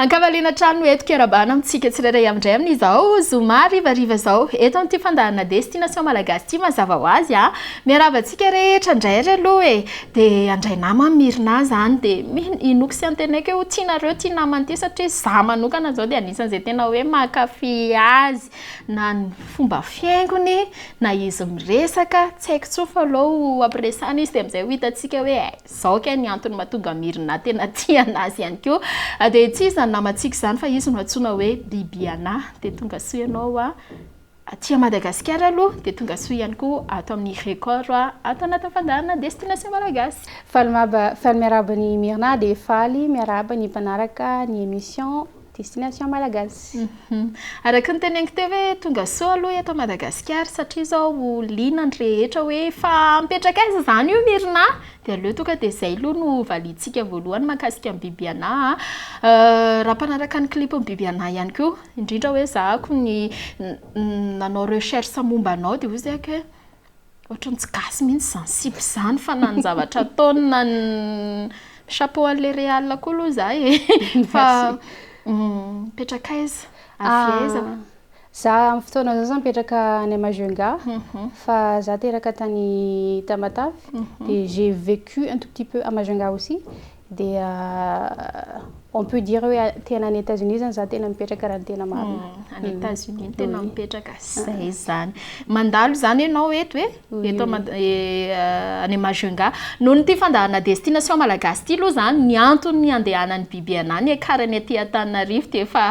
An-kavaliana hatrany no hentiko hiara-bahana amintsika tsirairay amindray amin'izao zoma harivariva izao eto amin'ity fandaharana Destination Malagasy ity mazava ho azy an! Miarahaba antsika rehetra indray ary aloha e! Dia handray nama amin'ny Mirina izany dia mino inoako sy antenaiko hoe ho tianareo ity namana ity satria izaho manokana izao dia anisan'izay tena hoe mankafy azy na ny fomba fihaingony na izy miresaka, tsy haiko intsony fa aleo ampiresahana izy dia amin'izay ho hitantsika hoe Zao kay ny antony matonga Mirna tena tia anazy ihany koa dia tsy izy izany namantsika izany fa izy no antsoina hoe Bibiana dia tonga soa ianao aty a Madagasikara aloha dia tonga soa ihany koa ato amin'ny Record ato anatin'ny fandaharana Destination Malagasy. Faly miarahaba an'i Mirna dia faly miarahaba ny mpanaraka ny emission. Destination malagasy. Araka ny teneniko teo hoe tonga soa aloha eto Madagasikara satria izao liana ny rehetra hoe fa mipetraka aiza izany io Mirina a? dia aleo tonga dia izay aloha no valiantsika voalohany mahakasika an'i Bibiana a! raha mpanaraka ny clip n'i Bibiana ihany koa indrindra hoe ezahako ny nanao recherche momba anao dia hoy izy hoe. Ohatran'ny tsy gasy mihitsy izany sipa izany fa na ny zavatra ataony na ny chapeau an'ilay Real koa aloha za e. Fa mipetraka mm, aiza? Avy ah, aiza? Za amin'ny fotoana izao za mipetraka any Majunga mhm. fa za teraka tany Tamatave mhm. dia j'ai vécu un tout petit peu à Majunga aussi. dia on peut dire hoe tena any Etats Unis zany za tena mipetraka raha ny tena marina. Hmm, any Etats Unis no tena mipetraka. Zay izany. Mandalo izany ianao eto e. Eto eh, any Majunga. Noho ny ity fandaharana destination malagasy ity aloha izany ny antony handehanan'ny BBNA ny akarany aty Antananarivo dia efa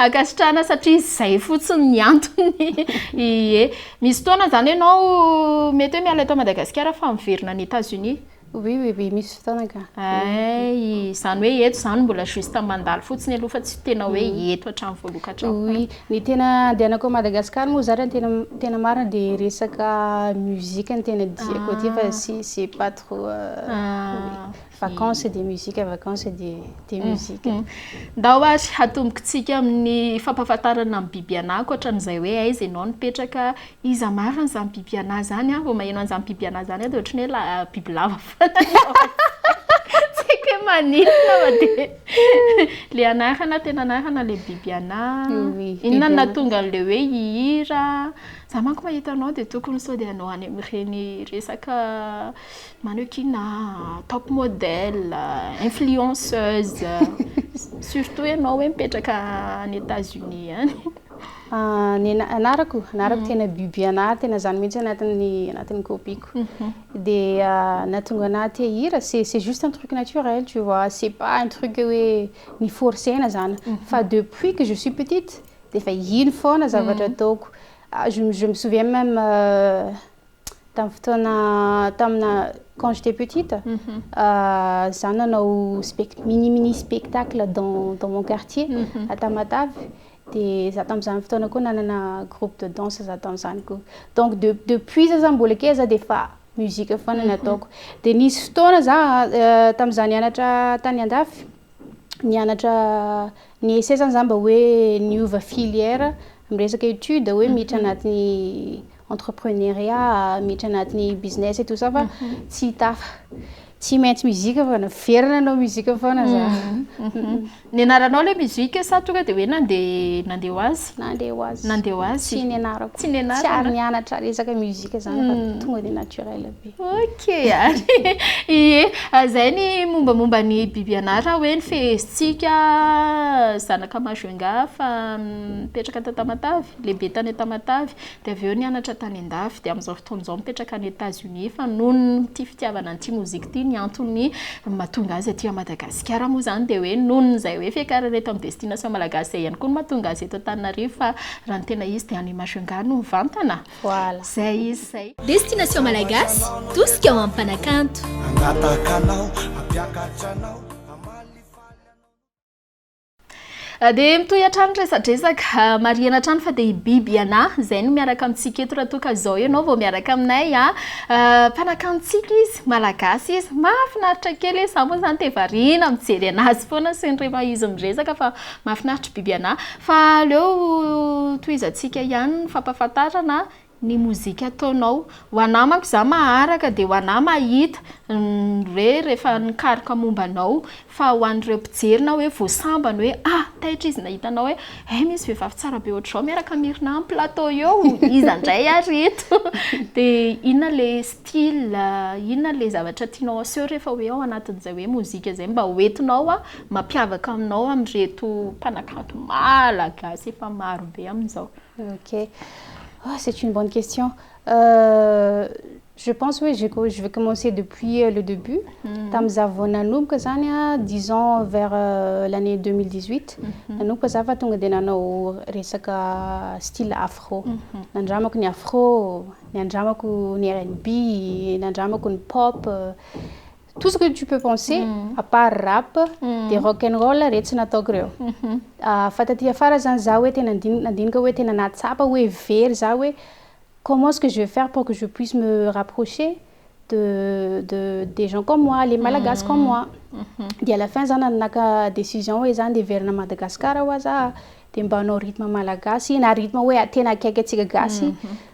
ankasitrahana satria izay fotsiny ny antony. Ie. Misy fotoana izany ianao mety hoe miala eto Madagasikara fa miverina any Etats Unis. Oui oui oui misy fotoana ka. Ay, izany hoe eto izany mbola juste mandalo fotsiny aloha fa tsy tena hoe mm. eto hatrany voaloka hatrany. Oui, ny tena andehanako à Madagascar moa zany tena tena marina dia resaka musique ny tena diako aty fa ah. si c'est pas trop euh, ah, vacances dia musique vacances dia dia mm, musique. Mm. Ndao ary hatombokintsika amin'ny fampahafantarana ny biby anako hatran'izay hoe aiza ianao nipetraka, Iza marina zany biby anah zany a, vao maheno an'izany biby anah zany a de ohatran'ny hoe la- bibilava foana ny ao an-tsaiko, tsy haiko hoe maninona fa dia le anarana tena anarana le biby anah, inona no nahatonga an'le hoe hihira, za manko mahita anao de tokony sao dia anao any amin'ireny resaka mannequinat a, top model, influenceuse, surtout ianao hoe mipetraka any Etats-Unis any. Ny anarako, anarako tena Bibiana, tena zany mihitsy anatin'ny anatin'ny copie-ko. Dia nahatonga anah te hihira, c'est c'est juste un truc naturel tu vois, c'est pas un truc hoe ni-forcer-na zany. Fa depuis que je suis petite dia efa iny foana zavatra ataoko. Je je me souviens même Tamin'ny fotoana tamina quand j'étais petite, za nanao spect mini mini spectacle dans dans mon quartier à Tamatave dia za tamin'izany fotoana koa nanana groupe de danse za tamin'izany koa. Donc de depuis za zany mbola kely za dia efa musique foana no ataoko. Dia nisy fotoana za tamin'izaho nianatra tany andafy nianatra ny ese izany izany mba hoe niova filière amin'ny resaka étude hoe miditra anatin'ny entrepreneuriat, miditra anatin'ny business et tout ça fa tsy hitafa. Tsy maintsy musique fa naverina nanao musique foana za. Nianaranao ilay musique sa tonga dia hoe nandeha nandeha ho azy? Nandeha ho azy. Nandeha ho azy. Tsy nianarako. Tsy nianarana. Tsy ary nianatra resaka musique izany fa tonga dia naturel be. Ok ary ie zay ny mombamomba ny biby anara hoe ny fehezitsika zanaka majunga fa mipetraka tao Tamatave lehibe tany Tamatave de avy eo nianatra tany andafy de amin'izao fotoana izao mipetraka any Etats Unis fa noho ny tia fitiavana an'ity mozika ity ny antony mahatonga azy aty Madagasikara moa zany de hoe noho ny izay hoe fiakarana eto amin'ny destination malagasy izay ihany koa no mahatonga azy eto Antananarivo fa raha ny tena izy de any majunga no mivantana. Voilà. Zay izy zay. Destination Malagasy, tosika ho amin'ny mpanakanto. Hangataka anao, hampiakatra anao. Ah, dia mitohy hatrany resadresaka ah, marihana hatrany fa dia biby iana izay no miaraka amintsika eto raha toa ka izao ianao vao miaraka aminay a ah. mpanakantsika izy malagasy izy mahafinaritra kely izy za moa izany dia variana mijery anazy foana sy ny rehefa izy miresaka fa Mahafinaritra Bibiana fa aleo tohizantsika ihany ny fampahafantarana ny mozika ataonao ho anah manko za maharaka de ho anah mahita ny hoe rehefa nikaroka momba anao fa ho an'ireo mpijery na hoe vao sambany hoe a! taitra izy nahita anao hoe hay misy vehivavy tsara be ohatr'izao miaraka am Irina am plateau eo iza ndray ary eto de inona le style inona le zavatra tianao aseho rehefa hoe ao anatin'izay hoe mozika zay mba ho entinao mampiavaka anao amin'ireto mpanakanto malagasy efa maro be amin'izao? Ok, ah c'est une bonne question, je pense hoe je je vais commencer depuis le début, tamin'ny za vao nanomboka zany a, disons vers l'année deux mille dix huit, nanomboka za fa tonga de nanao resaka style afro, nandramako ny afro, nandramako ny RNB, nandramako ny pop, Tout ce que tu peux penser à part rap de rock and roll retsy nataoko reo fa taty afara zany za hoe tena nandinika hoe tena nahatsapa hoe very za hoe comment ce que je vais faire pour que je puisse me rapprocher de de des gens comme moi les malagasy comme moi de à la fin za naka décision hoe za nde hiverina à Madagascar hoa za de mba hanao rythme malagasy na rythme hoe tena akaiky antsika gasy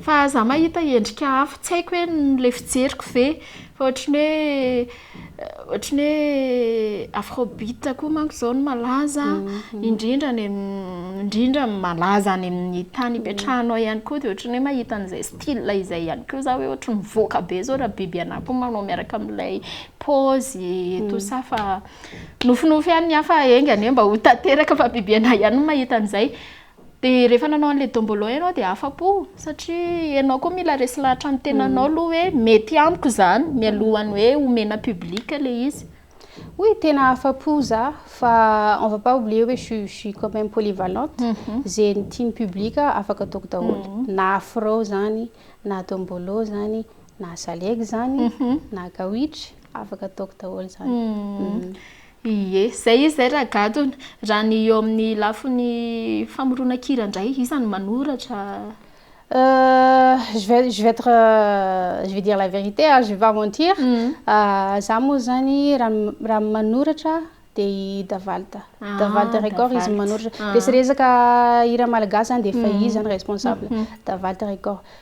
Fa za mahita endrika hafa, tsy haiko hoe le fijeriko ve fa ohatry ny hoe ohatry ny hoe afrobeat koa manko zao no malaza indrindra any amin'ny indrindra ny malaza any amin'ny tany ipetrahanao ihany koa de ohatry ny hoe mahita an'izay style izay ihany koa za hoe ohatry mivoaka be zao raha biby anah koa manao miaraka amin'ilay pôzy et tout ça fa nofinofy ihany ny ahy fa enga anie mba ho tanteraka fa biby anah ihany no mahita an'izay. Dia rehefa nanao an'ilay dombolo ianao dia afa-po satria ianao koa mila resy lahatra amin'ny tenanao aloha hoe mety amiko izany mialohan'ny hoe omena public ilay izy. Oui, tena afa-po za fa on va pas oublier hoe je suis quand même polyvalente, izay tian'ny public afaka ataoko daholo, na afro izany, na dombolo izany, na salegy izany, na gawitry, afaka ataoko daholo izany. Ie, zay izy zay Ragadona. Raha ny eo amin'ny lafiny famoronan-kira indray, iza no manoratra? Euh, je vais, je vais être, euh, je vais dire la vérité ah, je vais pas mentir, ah, za moa zany raha, raha ny manoratra de i Davald, Davald record izy no manoratra, resirezaka hira malagasy zany de efa izy zany responsable, Davald record,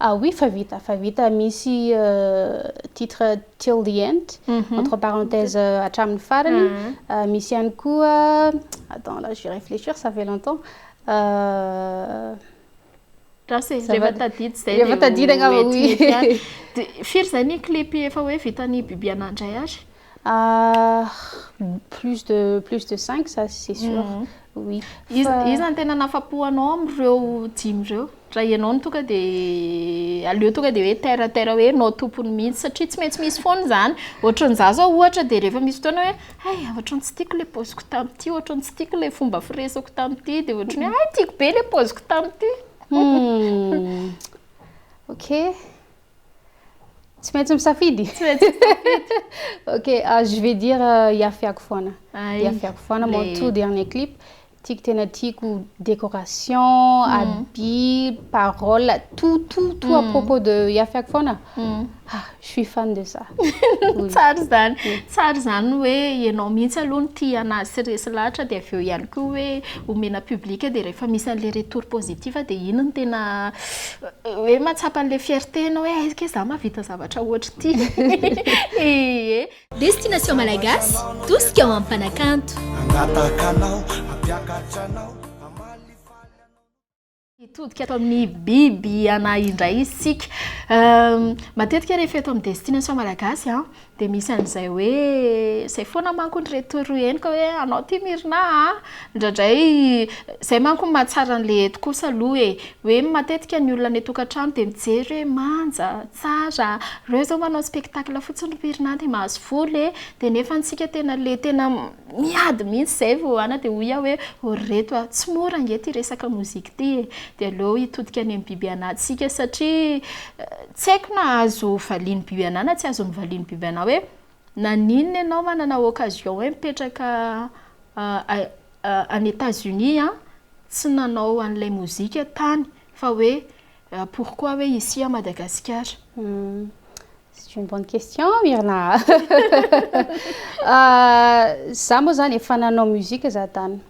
Ah oui fa vita fa vita misy titre till the end entre parenthèse hatramin'ny farany misy ihany koa attends là je vais réfléchir ça fait longtemps gasy zay rehefa tadidy zay rehefa tadidina angamba oui dia firy zay ny clip efa hoe vitan'i Bibiana indray ary Ah, plus de plus de cinq ça c'est sûr, oui. Iza iza no tena nahafapo anao amin'ireo dimy ireo? Raha ianao no tonga dia aleo tonga dia hoe terre à terre hoe ianao tompony mihitsy satria tsy maintsy misy foana izany. Ohatran'ny izaho izao ohatra dia rehefa misy fotoana hoe hay ohatran'ny tsy tiako ilay paoziko tamin'ity, ohatran'ny tsy tiako ilay fomba firesako tamin'ity dia ohatran'ny hoe hay tiako be ilay paoziko tamin'ity. Hum, ok. Tsy maintsy misafidy. Tsy maintsy misafidy. ok, ah, je vais dire euh, iafiako foana. Iafiako foana mon tout dernier clip. Tiako tena tiako décoration, mm. habit, parole, tout tout tout à mm. propos de iafiako foana. Mm. Ah, je suis fan de ça. Tsara izany. Tsara izany hoe ianao mihitsy aloha no tia anazy sy resy lahatra dia avy eo ihany koa hoe omena public dia rehefa misy an'ilay retour positif dia iny no tena euh, hoe mahatsapa an'ilay fierté anao hoe aiza kay za mahavita zavatra ohatr'ity ee Destination Malagasy, tosika ho amin'ny mpanakanto. Hangataka anao, hampiakatra anao, hamalifaly anao. Hitodika ato amin'ny biby iana indray isika. Matetika rehefa eto amin'ny Destination Malagasy, Dia misy an'izay hoe, izay foana manko ry reto ry henoka hoe anao ity Myrna a! indraindray izay manko no mahatsara an'ilay eto kosa aloha e! hoe matetika ny olona any an-tokantrano dia mijery hoe manja, tsara, ireo izao manao spectacle fotsiny ry Myrna dia mahazo vola e! dia nefa antsika tena ilay tena miady mihitsy izay vao ana dia hoy aho hoe oh ry reto a! tsy mora ange ity resaka mozika ity e! dia aleo hitodika any amin'ny biby anantsika satria Tsy haiko na azo valian'ny biby anah na tsy azon'ny valian'ny biby anah hoe naninona ianao manana occasion hoe mipetraka any Etats Unis an, tsy nanao an'ilay mozika tany fa hoe pourquoi hoe ici à Madagasikara. C'est une bonne question Myrna a! Za moa zany efa nanao musique za tany.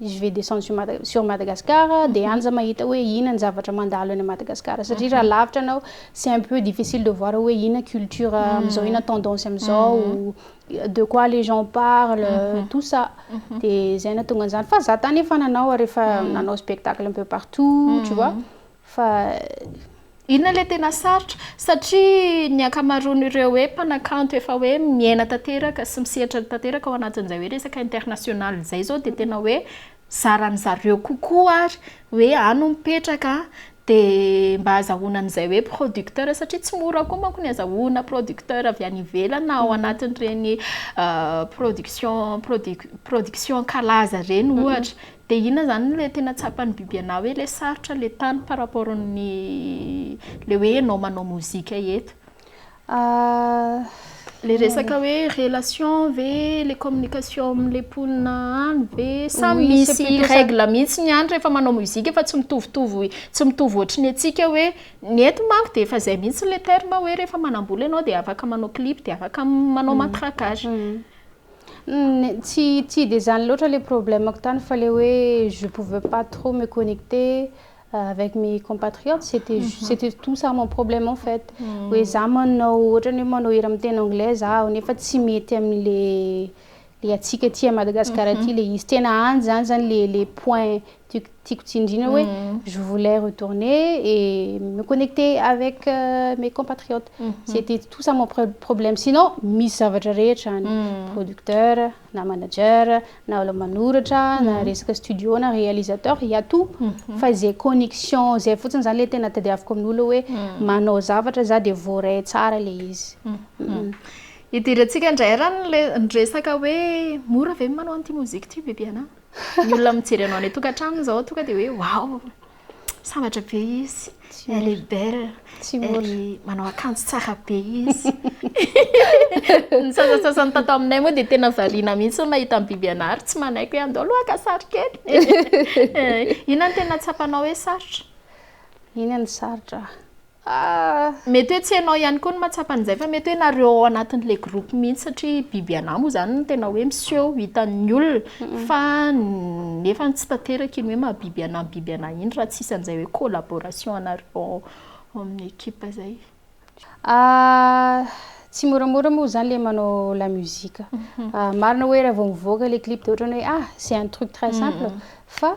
i Je vais descendre sur Madagascar dia any za mahita hoe ina ny zavatra mandalo any Madagascar satria raha lavitra anao c'est un peu difficile de voir hoe ina culture hmm. amizao ina tendance amizao hmm. de quoi les gens parlent hmm. tout ça dia zay natonga an'izany fa za tany efa nanao ary efa nanao spectacle un peu partout tu vois Fa inona ilay tena sarotra? Satria ny ankamaroan'ireo hoe mpanakanto efa hoe miaina tanteraka sy misehatra tanteraka ao anatin'izay hoe resaka international izay izao dia tena hoe zaran'ny zareo kokoa ary hoe any no mipetraka an, dia mba azahoana an'izay hoe producteur satria tsy mora koa manko ny azahoana producteur avy any ivelany na ao anatin'ireny production production kalaza ireny ohatra. Dia inona izany ilay tena tsapan'ny biby anà hoe ilay sarotra ilay tany par rapport ny ilay hoe ianao manao mozika eto? Ilay resaka hoe relation ve, ilay communication amin'ilay mponina any ve? Sa misy règle mihitsy ny any rehefa manao mozika fa tsy mitovitovy tsy mitovy ohatry ny antsika hoe ny eto manko dia efa izay mihitsy ilay terme hoe rehefa manam-bola ianao dia afaka manao clip dia afaka manao matraquage. Tsy tsy dia izany loatra ilay problème-ko tany fa ilay hoe je pouvais pas trop me connecter avec mes compatriotes c'était ju- c'était tout ça mon problème en fait hoe za manao ohatrany hoe manao hira miteny anglais zaho nefa tsy mety amin'ilay le antsika aty a Madagasikara aty le izy tena any zany zany le le point tiako tsindriana hoe je voulais retourner et me connecter avec euh, mes compatriotes mhm. c'était tout ça mon problème sinon misy zavatra rehetra any mhm. producteur na manager na olo manoratra na mhm. resaka studio na réalisateur il y a tout fa izay connexion izay fotsiny zany le tena tadiaviko amin'olo hoe manao zavatra za de voaray tsara le izy idirantsika ndray raha ny resaka hoe mora ve manao an'ity mozika ity bebiana Ny olona mijery anao any an-tokantrano izao tonga dia hoe waouh, sambatra be izy, elle est belle, elle est, manao akanjo tsara be izy. Ny sasantsasany tato aminay moa dia tena variana mihitsy ny mahita an'i Bibianary, tsy manaiky hoe andao aloha haka sary kely. Inona no tena tsapanao hoe sarotra? Inona no sarotra? Mety hoe tsy ianao ihany koa no mahatsapa an'izay fa mety hoe nareo ao anatin'ilay groupe mihitsy satria biby anà moa izany no tena hoe miseho hitan'ny olona fa nefa tsy tanteraka iny hoe maha biby anà ny biby anà iny raha tsy misy an'izay hoe collaboration anareo ao amin'ny équipe izay. Tsy moramora moa izany ilay manao la musique. Marina hoe raha vao mivoaka ilay clip dia ohatran'ny hoe ah c'est un truc très simple fa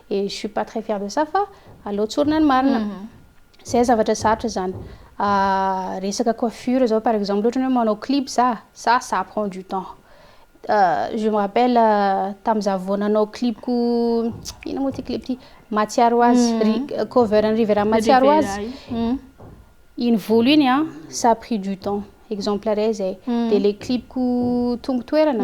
et je suis pas très fière de ça fa aleo tsorina ny marina zay zavatra sarotra zany resaka coiffure zao par exemple ohatrany hoe manao clip za ça ça prend du temps je me rappelle tam za vao nanao clip ko ina moa ty clip ty mahatsiaro ho azy ry cover an'i Rivera mahatsiaro ho azy iny volo iny an ça pris du temps exemple re zay de le clip ko tongo toerana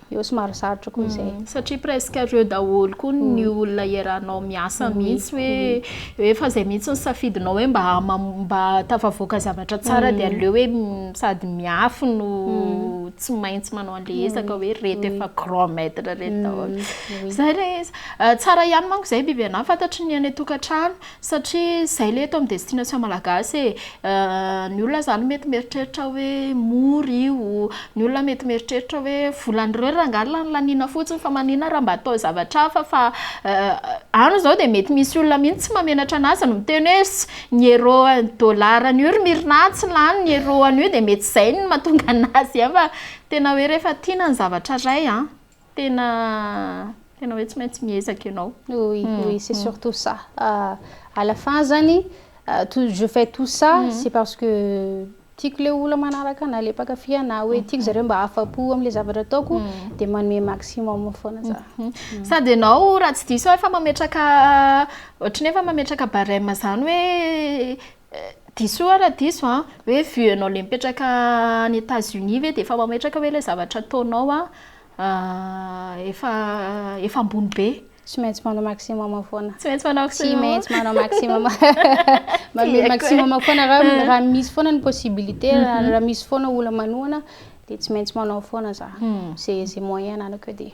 eo somary sarotra koa izay. Satria presque ireo daholo koa ny olona iarahanao miasa mihitsy hoe hoe fa izay mihitsy ny safidinao hoe mba mba tafavoaka zavatra tsara dia aleo hoe sady miafy no tsy maintsy manao an'ilay ezaka hoe ireto efa grand maitre ireto daholo. Izay ilay izy. Tsara ihany manko izay bibiana, fantatry ny any an-tokantrano. Satria zay le eto am destination malagasy e! ny olona zany mety mieritreritra hoe mora io, ny olona mety mieritreritra hoe volan'ireo rangahy lany laniana fotsiny fa manina raha mba atao zavatra hafa fa any zao de mety misy olona mihitsy tsy mahamenatra anazy no miteny hoe ss ny euro ny dollar an'io ry Mirna tsy lany ny euro an'io de mety zay no mahatonga anazy fa tena hoe rehefa tiana ny zavatra ray an! Tena tena hoe tsy maintsy miezaka ianao. Oui, mm, oui, c'est mm. surtout ça. Uh, à la fin zany, uh, tout, je fais tout ça, mm. c'est parce que tiako le olona manaraka na le mpakafy ana hoe mm. tiako zareo mba afa-po amin'le zavatra ataoko mm. de manome maximum foana za. Mm. Mm. Sady ianao raha tsy diso efa mametraka ohatry ny efa mametraka barème zany hoe Diso oa ra diso a, hoe vue anao le mipetraka any Etats Unis ve de efa mametraka hoe le zavatra ataonao a efa efa ambony be? Tsy maintsy manao maximum foana. Tsy maintsy manao maximum. Tsy maintsy manao maximum. Manao maximum foana raha raha misy foana ny possibilité, mhm. raha misy foana olona manohana dia tsy maintsy manao foana za. Mhm. Ze ze moyen ananako eo dia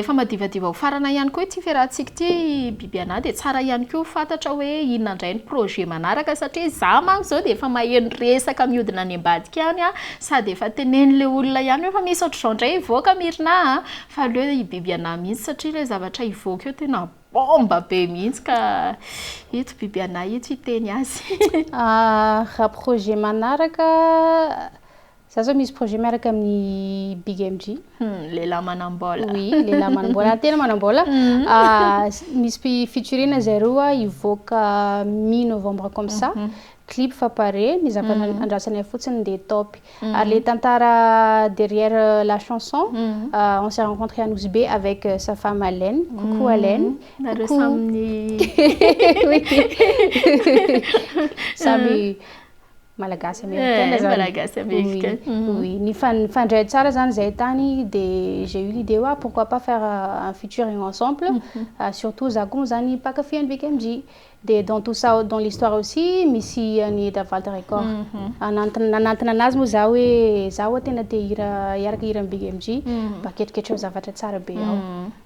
Efa madivadiva ho farana ihany koa ity fiarahantsika ity Bibiana dia tsara ihany koa fantatra hoe inona indray ny projet manaraka satria izaho manko izao dia efa maheno resaka mihodina any ambadika any an, sady efa tenen'ilay olona ihany hoe efa misy ohatr'izao indray hivoaka an Mirina an! fa aleo i Bibiana mihitsy satria ilay zavatra hivoaka eo tena bomba be mihitsy ka ito Bibiana ito hiteny azy. Raha projet manaraka. Za zao misy projet miaraka amin'ny Big MG. Hum, lehilahy manam-bola. Oui, lehilahy manam-bola. Tena manam-bola. Ah, misy pi- featuring zay roa hivoaka mi novembre comme ça. Clip fa pare, ny zavatra andrasanay fotsiny dia top. Ary le tantara derrière la chanson, ah, on s'est rencontré à Nosy Be avec sa femme Alène. Coucou Alène. Nareo Coucou. samy ni- Oui. Samy Malagasy américaine eh, Malagasy américaine. Oui, oui. Nifandray tsara zany zay tany de j'ai eu l'idée wa pourquoi pas faire euh, un featuring ensemble. Mm -hmm. uh, surtout za koa zany mpakafy an'i BKMG. De dans tout ça dans l'histoire aussi misy an'i Eda Valda Record. Mm -hmm. Anantona anantona anazy moa za hoe za wa tena te hira hiaraka hira an'i BKMG. Mm -hmm. Mba ketriketreo zavatra tsara be ao. Mm -hmm.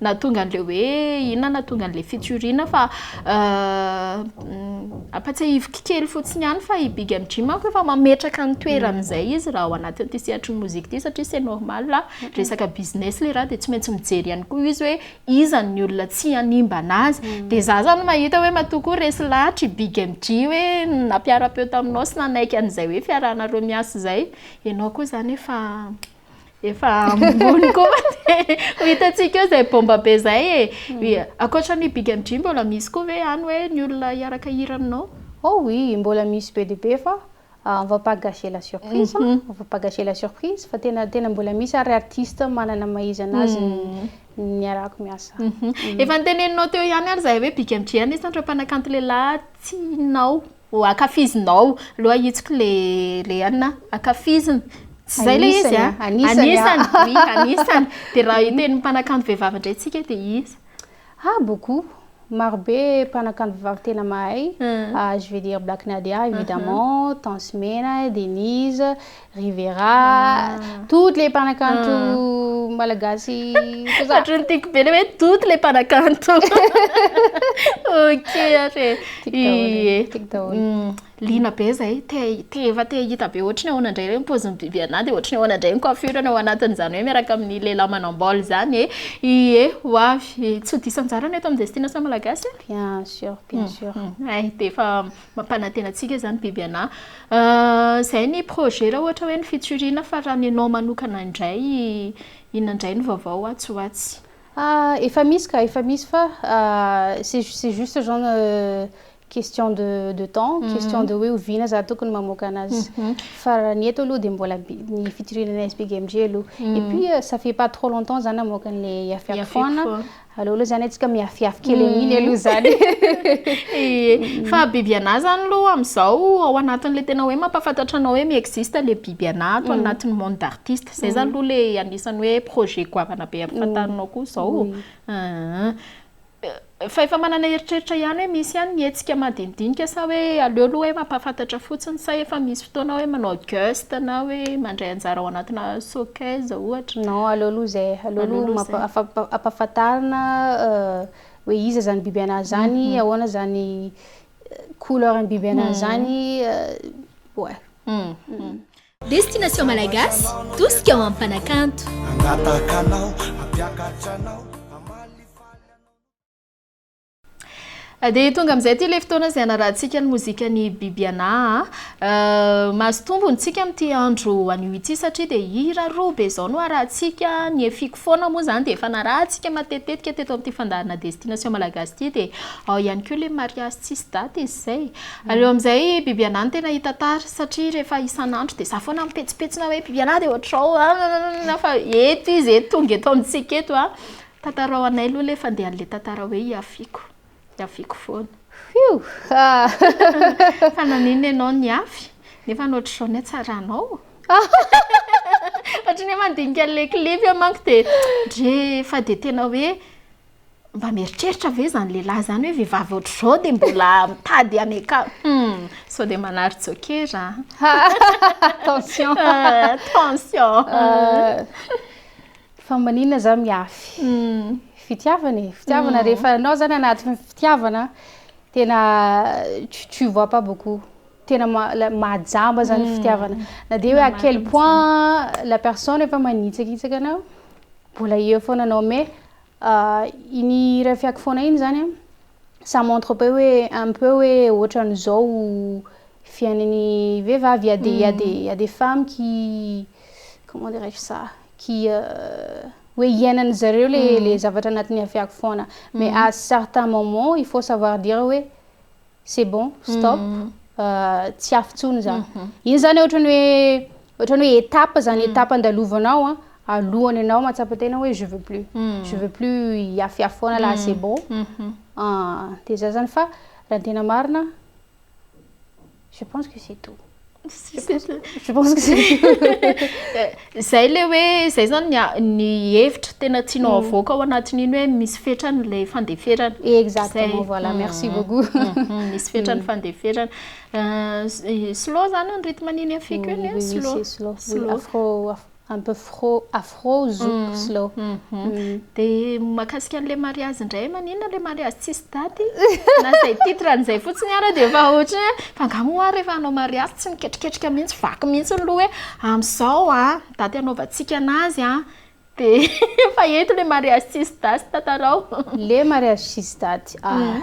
Nahatonga an'ilay hoe inona nahatonga an'ilay fitsoriana fa ampatsiahiviko kely fotsiny ihany fa i Big MJ manko efa mametraka ny toerany izay izy raha ao anatin'ity sehatry ny mozika ity satria c'est normal resaka business ilay raha dia tsy maintsy mijery ihany koa izy hoe iza ny olona tsy hanimbana azy dia za zany mahita hoe matoa koa resy lahatra i Big MJ hoe nampiara-peo taminao sy nanaiky an'izay hoe fiarahanareo miasa izay ianao koa zany efa efa ambony koa ho hitantsika eo izay bomba be izay e eh. ankoatra ny big and dream mbola misy koa ve any hoe ny olona hiaraka hira aminao oh oui mbola misy be dia be fa ah, on va pas gâcher la surprise mhm. on va pas gâcher la surprise fa tena tena mbola misy ary artiste manana maizana azy mhm. ny arako miasa mhm. efa niteneninao teo ihany ary izay hoe big and dream isan'ireo mpanakanto lehilahy tianao Oh akafizinao loha hitsiko le le an a! akafiziny tsy zay le izy an! anisany oui anisany de raha hiteny mpanakanto vehivavy ndray tsika de iza? ha beaucoup maro be mpanakanto vehivavy tena mahay je vais dire black nadia évidemment tansy mena, denise, Rivera, toutes les mpanakanto malagasy tout ça. Ohatran'ny tiako be le hoe toutes les mpanakanto. Ok ary e. Tiako daholo, Ie. tiako daholo. Mm, Liana be zay, te te efa te hahita be ohatry ny ahoana indray le ny paozin'i Bibiana dia ohatry ny ahoana indray ny coiffure-ny ao anatin'izany hoe miaraka amin'ny lehilahy manam-bolo izany e. Ie, ho avy. Tsy ho diso anjara ny eto amin'ny Destination Malagasy a. Bien sûr, bien sûr. Hay dia efa mampanantena antsika zany biby anà zay ny projet raha ohatra hoe ny fitsoriana fa raha ny anao manokana indray inona indray ny vaovao ho atsy ho atsy? Efa misy ka, efa misy fa c'est c'est juste zan question de de temps, question de hoe oviana za tokony mamoaka anazy fa raha ny eto aloha dia mbola bi- ny fitsirihana ny SBGMG aloha et puis ça fait pas trop longtemps za namoaka an'ilay Yafiaky foana Aleo aloha zany antsika mihafiafy kely amin'iny aloha zany e! Fa biby anà zany aloha am'zao ao anatin'le tena hoe mampahafantatra anao hoe mi-existe le biby anà ato anatin'ny monde d'artiste, zay zany aloha le anisan'ny hoe projet goavana be ampifantarinao koa zao, ahh. Fa efa manana eritreritra ihany hoe misy ihany ny hetsika madinidinika sa hoe aleo aloha hoe mampahafantatra fotsiny sa efa misy Fotoana hoe manao guest na hoe mandray anjara ao anatina showcase ohatra? Non, aleo aloha izay, aleo aloha ampahafantarina hoe iza izany biby anà izany, ahoana izany couleur ny biby anà izany, ouais. Destination Malagasy, tosika ho amin'ny mpanakanto. Hangataka anao, hampiakatra anao. Dia tonga amin'izay ity ilay fotoana izay hanarahantsika ny mozikan'i Bibiana. Mahazo tombony tsika amin'ity andro anio ity satria dia hira roa be izao no harahantsika. Ny Efiko foana moa izany dia efa narahantsika matetitetika teto amin'ity fandaharana Destination Malagasy ity. Dia ao ihany koa ilay mariazy tsisy daty izy izay. Aleo amin'izay Bibiana no tena hitantara satria rehefa isan'andro dia izaho foana mipetsipetsona hoe Bibiana dia ohatr'izao fa eto izy eto, tonga eto amintsika eto. Tantarao anay aloha le fandehan le tantara hoe ihafiako, ihafiako foana. Fiuu aa. Fa naninona ianao nihafy? Nefa ny ohatr'izao ny hatsaranao? Ohatry ny hoe mandinika an'ilay clip aho manko dia ndry fa dia tena hoe mba mieritreritra ve izany lehilahy izany hoe vehivavy ohatr'izao dia mbola mitady hanekana hum sao dia manary jokera an! Tension! Tension! Fa maninona za miafy fitiavana e? Fitiavana rehefa anao zany anaty fitiavana tena tu tu vois pas beaucoup. Tena mahajamba zany fitiavana. Na dia hoe à quel point la personne efa manitsakitsaka anao, mbola eo foana anao mais euh, iny iray fiako foana iny zany an, ça montre peu hoe un peu hoe ohatran'izao fiainan'ny vehivavy. Il y a des il y a des il y a des femmes qui comment dirais-je ça? qui hoe iainany zareo le hmm. le zavatra anatiny afiako foana mais hmm. à certain moment il faut savoir dire hoe c'est bon stop hmm. euh, tsy afy tsony za iny zany ohatrany hoe ohatrany hoe étape zany étape andalovanao a alohany anao matsapa tena hoe je veux plus je veux plus iafiafy foana la c'est bon ah, de za zany fa raha tena marina Je pense que c'est tout. Je pense que, je pense que c'est tout. Zay le hoe zay zany ny a- ny hevitra tena tianao avoaka ao anatin'iny hoe misy fetrany ilay fandeferana. Exactement, Zay. voilà, merci Mhm. beaucoup. Mhm, Misy fetrany fandeferana. Euh, s- eh, slow zany ny rythme an'iny afiko iny, Oui, oui, slow. c'est slow. Oui, Slow. afro, afro- un peu fro, afro, zouk, slow. Dia mahakasika an'ilay mariazy indray, maninona ilay mariazy tsisy daty? Na izay titre an'izay fotsiny ara dia efa ohatry ny hoe fa angaha moa ary rehefa hanao mariazy tsy miketriketrika mihitsy, vaky mihitsy ny loha hoe amin'izao a, daty hanaovantsika an'azy a. Dia efa eto ilay mariazy tsisy daty, tantarao. Ilay mariazy tsisy daty, ah,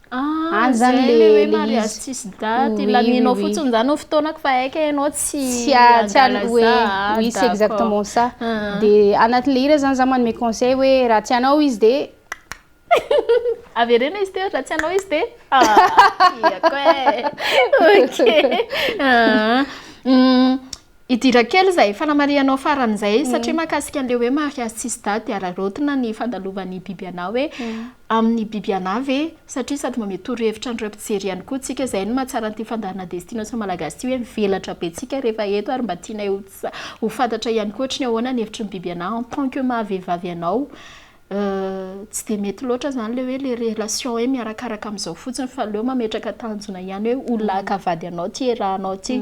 Ah, Any zany zay le- le hoe le mariage izy. tsisy date, Oui, ilamianao oui, oui. fotsiny zany ho fotoanako fa haika ianao tsy tsy a- tsy a- hangalazà, hoe ah, oui c'est d'accord. exactement ça Ah. de anatin'le hira zany za manome conseil hoe raha tsy anao izy de Avereno izy teo, raha tsy anao izy de ah, tiako e! Ok. Ah, hum, Hidira kely izay fanamarihanao farany izay satria mahakasika an'ilay hoe mariazy tsisy daty dia araraotina ny fandalovan'ny biby anà hoe amin'ny biby anà ve satria sady manome torohevitra an'ireo mpijery ihany koa tsika izay no mahatsara an'ity fandaharana destination malagasy ity hoe mivelatra be tsika rehefa eto ary mba tianay ho fantatra ihany koa ohatry ny ahoana ny hevitry ny biby anà en tant que maha vehivavy anao tsy dia mety loatra izany ilay hoe ilay relation hoe miarakaraka amin'izao fotsiny fa aleo mametraka tanjona ihany hoe ho lahy ka vady anao ity iarahanao ity.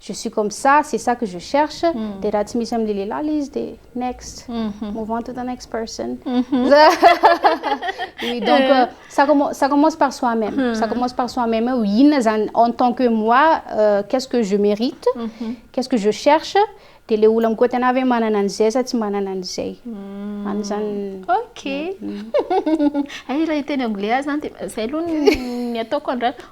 Je suis comme ça, c'est ça que je cherche, dia raha tsy misy amin'ilay lehilahy ilay izy dia next, move on to the next person. Oui, donc euh, ça, commence, ça commence par soi-même. Hmm. Ça commence par soi-même. Eo inona zany en tant que moi, euh, qu'est-ce que je mérite, mhm. qu'est-ce que je cherche, dia le olona mikoa tena hoe manana an'izay sa tsy manana an'izay. Hmm. Any zany. Ok. Hmm. Ay raha hiteny anglais zany dia zay aloha ny ataoko andrana.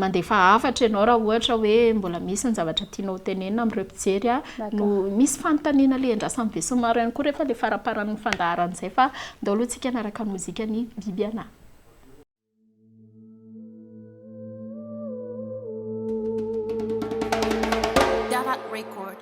Mandefa hafatra ianao raha ohatra hoe mbola misy ny zavatra tianao ho tenenina amin'ireo mpijery. No misy fanontaniana alehan-drasan'ny besinimaro ihany koa rehefa ilay faramparan'ny fandaharana izay fa andao aloha isika hanaraka ny mozikan'i Bibiana.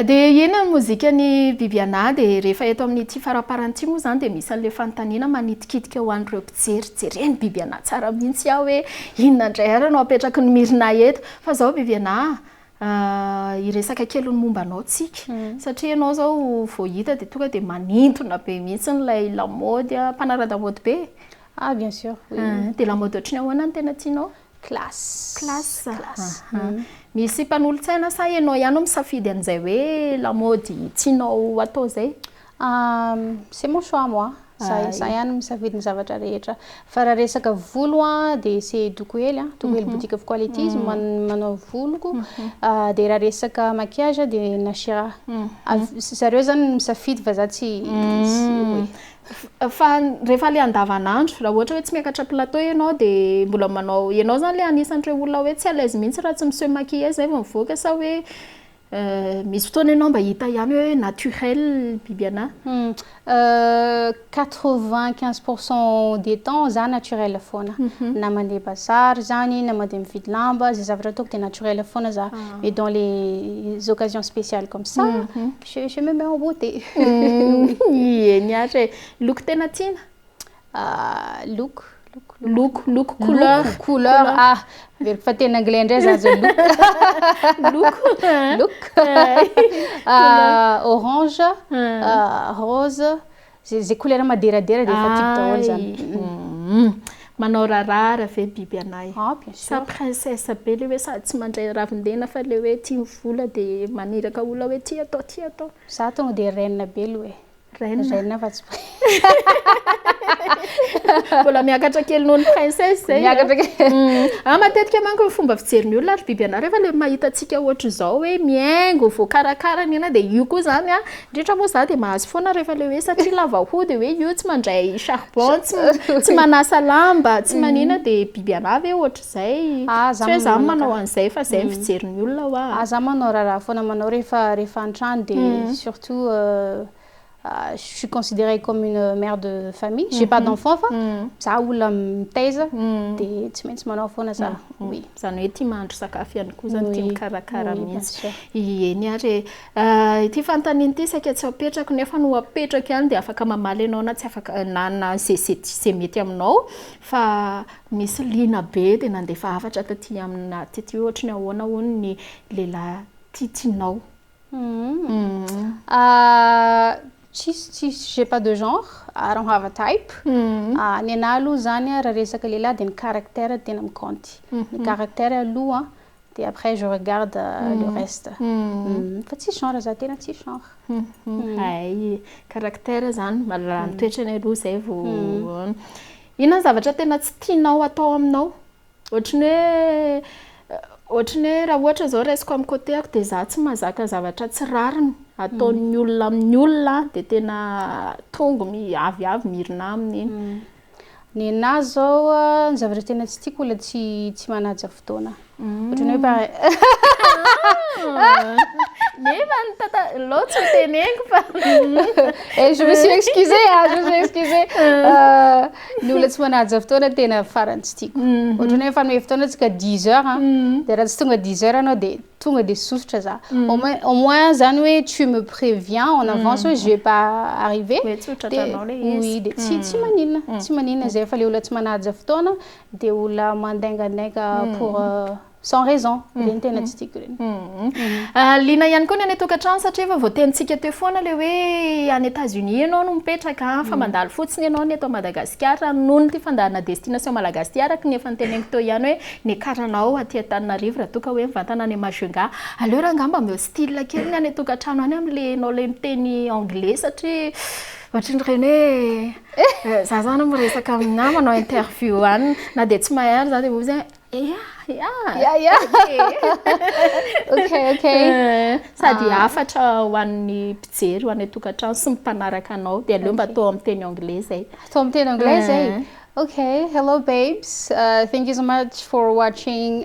Dia inona ny mozikan'i Bibiana dia rehefa eto amin'ity faraparany ity moa izany dia misy an'ilay fanontaniana manitikitika ho an'ireo mpijery jereny Bibiana tsara mihitsy aho hoe inona indray ary no apetraky ny Myrna eto fa izao Bibiana Hiresaka kely ny momba anao tsika satria ianao izao vao hita dia tonga dia manintona be mihitsy ilay lamaody a, mpanara-damaody be e? Ah bien sûr, oui. Dia lamaody ohatry ny ahoana no tena tianao? Classe. Classe? Aha. Misy mpanolotsaina sa ianao ihany no misafidy an'izay hoe lamaody tianao atao izay? Ahh c'est mon choix moi, za za ihany misafidy ny zavatra rehetra, fa raha resaka volo a de c'est Dokohely a, Dokohely mhm. boutique of quality izy mhm. manao voloko, mhm. ah, de raha resaka maquillage de Nashira, zareo zany misafidy fa za tsy fa rehefa le andavanandro raha ohatra hoe tsy miakatra plateau ianao de mbola manao ianao zany le anisan'ireo olona hoe tsy à l'aise mihitsy raha tsy miseho maquillage zay vao mivoaka sa hoe Misy fotoana ianao mba hita ihany hoe naturel biby anah? Quatre vingt quinze pour cent des temps za naturel foana, na mandeha bazary zany na mandeha mividy lamba, zay zavatra ataoko dia naturel foana za, mais dans les occasions spéciales comme ça je me mets en beauté. Eny ary e! Loko tena tiana? Look, look, look. Look, look, couleur. Look, couleur. Ah, averiko fa teny anglais indray za zao look. look. look. Ah, orange, ah, rose. Zay zay couleur maderadera dia efa tiako daholo zany. Mm. Manao rarara ve biby anay? Ah, bien Sa sûr. princesse be le hoe sady tsy mandray ravin-dena fa le hoe tia vola dia maniraka olona hoe ty atao, ty atao. Za tonga dia reine be aloha e. Reine. Reine fa tsy Mbola miakatra kely noho ny princesse zay. Miakatra kely. Mm. Ah matetika manko ny fomba fijerin'ny olona ry biby anà rehefa le mahita antsika ohatr'izao hoe mihaingo, voakarakara ny anà dia io koa zany a. Indrindra moa za dia mahazo foana rehefa le hoe satria lava hoho dia hoe io tsy mandray charbon, tsy tsy manasa lamba, tsy manina dia biby anà ve ohatr'izay. Zay, tsy hoe za manao an'izay fa zay ny fijerin'ny olona hoa. Ah za manao raharaha foana manao rehefa rehefa an-trano de surtout je suis considerée comme une mère de famille, j'ai pas d'enfants fa za olona mitaiza de tsy maintsy manao foana za, oui. Zany hoe tia mahandro sakafo ihany koa zany, tia mikarakara mihitsy. Eny ary e. Ity fanontaniana ity saika tsy apetrako nefa no apetrako ihany de afaka mamaly ianao na tsy afaka na na ze ze mety aminao fa Nisy liana be dia nandefa hafatra taty amina taty hoe ohatry ny ahoana hono ny lehilahy titinao. Tsisy tsisy j'ai pas de genre, I don't have a type. Ny anah aloha izany raha resaka lehilahy dia ny caractère no tena mikaonty. Ny caractère aloha dia après je regarde le reste. Fa tsisy genre za tena tsisy genre. Hay, caractère izany, mahalala ny toetrany aloha izay vao. Inona ny zavatra tena tsy tianao atao aminao? Ohatry ny hoe ohatry ny hoe raha ohatra izao raisiko amin'ny côté-ko dia izaho tsy mahazaka zavatra tsy rariny ataon'ny olona amin'ny olona dia tena tongo mi- avy avy mirona aminy iny. Ny anahy izao a, ny zavatra tena tsy tiako olona tsy tsy manaja fotoana. Ohatrany hoe pare. Nefa ny tata lô tsy teneniko fa. Eh je me suis excusé ah, je me suis excusé. Ny olona tsy manaja fotoana tena farany tsy tiako. Ohatrany hoe fanome fotoana tsika 10 heures ah, dia raha tsy tonga 10 heures anao dia tonga dia sosotra za. Au moins au moins zany hoe tu me préviens en avance hoe je vais pas arriver. Dia tsy maninona, tsy maninona zay fa le olona tsy manaja fotoana dia olona mandaingandainga pour sans raison ireny tena tsy tiako ireny liana ihany koa ny any tokantrano satria efa voatenintsika teo foana ilay hoe any Etats Unis ianao no mipetraka fa mandalo fotsiny ianao ny eto Madagasikara noho ny ity fandaharana destination malagasy ity araka ny efa noteneniko teo ihany hoe niakaranaao aty Antananarivo raha toa ka hoe mivantana any Majunga aleo raha angamba mba hostile kely ny any tokantrano any amin'ilay ianao ilay miteny anglais satria ohatran'ireny hoe Eh! Za zany miresaka amin'ny nama manao interview any na dia tsy mahay any za dia hoy izy hoe ya ya ya ya ok ok sady hafatra ho an'ny mpijery ho an'ny tokantrano sy ny mpanaraka anao dia aleo mba atao amin'ny teny anglais zay atao amin'ny teny anglais zay ok hello babes thank you so much for watching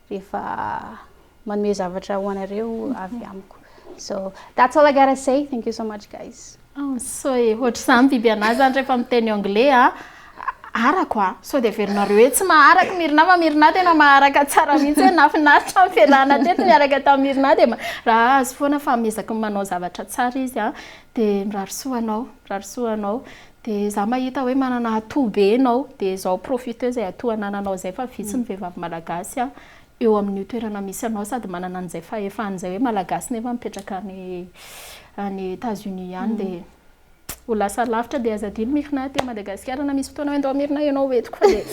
rehefa manome zavatra ho anareo avy amiko so that's all I gotta say thank you so much guys oh so e ohatr'izany biby anah zany rehefa miteny anglais a arako a sao dia averinareo hoe tsy maharaka mirina fa mirina tena maharaka tsara mihitsy hoe nafinaritra ny fialana teto miaraka tamin'ny mirina dia raha azy foana fa miezaka manao zavatra tsara izy a dia mirary soa anao mirary soa anao De za mahita hoe manana atout be enao de zao profitez zay atout anananao zay fa vitsy ny vehivavy malagasy a eo amin'io toerana misy anao sady manana an'izay fahefany zay hoe malagasy nefa mipetraka any any Etats Unis any de ho lasa lavitra de aza adino Myrna aty Madagasikara na misy fotoana hoe ndao Myrna enao ho entiko fa de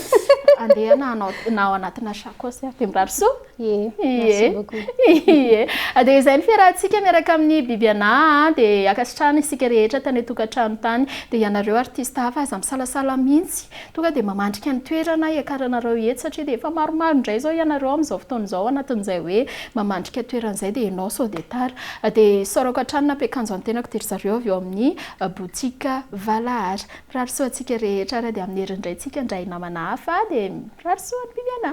andehana na ao anatina sacoche ary de mirary soa. Ie, merci beaucoup. Ie. Dia izay ny fiarahantsika miaraka amin'ny Biby Anà an, dia ankasitrahana isika rehetra tany an-tokantrano tany. Dia ianareo artista hafa aza misalasala mihitsy, tonga dia mamandrika ny toerana hiakaranareo eto satria dia efa maromaro indray izao ianareo amin'izao fotoana izao anatin'izay hoe mamandrika toerana izay dia ianao sao dia tara. Dia isaorako hatrany nampiakanjo ny tenako dia ry zareo avy eo amin'ny boutique Valahara. Mirary soa antsika rehetra ary dia amin'ny herin'ny Raintsika indray namana hafa dia mirary soa ny Biby Anà.